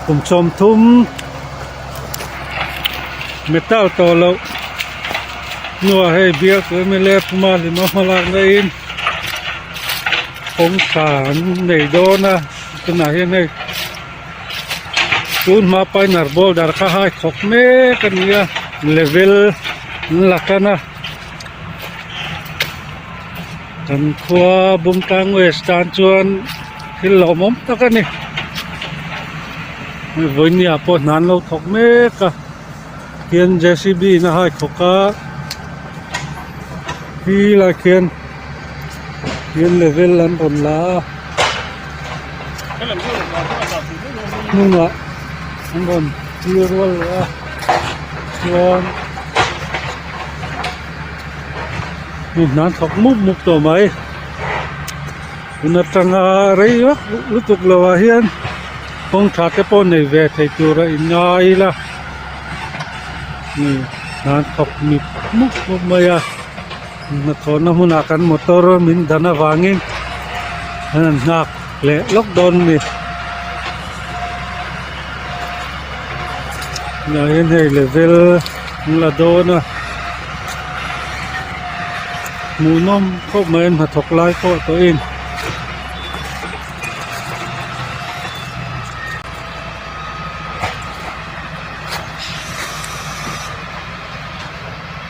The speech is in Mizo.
kum sawm thum metal tawh loh hnua hei bial chu m l a puma hlima hma lak na in kawngkhar an nei dawn a tunah hian hei tun hma paina inner boulder kha hai khawp mek a ni a level an la tan a. Kan khua Bumtlang West tan chuan thil lawmawm tak a ni, hei vawinia pawh hnan lo thawk mek a, khian J_C_B in a haithawk a, khi lai khian khian level an rawn la a, hnungah an rawn tir rual leh a chuan-- hnim hnam thawk muk muk tawh mai tun atanga rei rawh lutuk lo ah hian kawng tha te pawh nei ve thei tur a in ngai ila hnim hnam thawk muk muk muk mai a hnathawhna hmun ah kan motor min dan avangin an han nghak. leh lawk dawn a ni tunah hian hei level an la dawn a hmuh nawm khawp mai an hnathawk lai pawh tawhin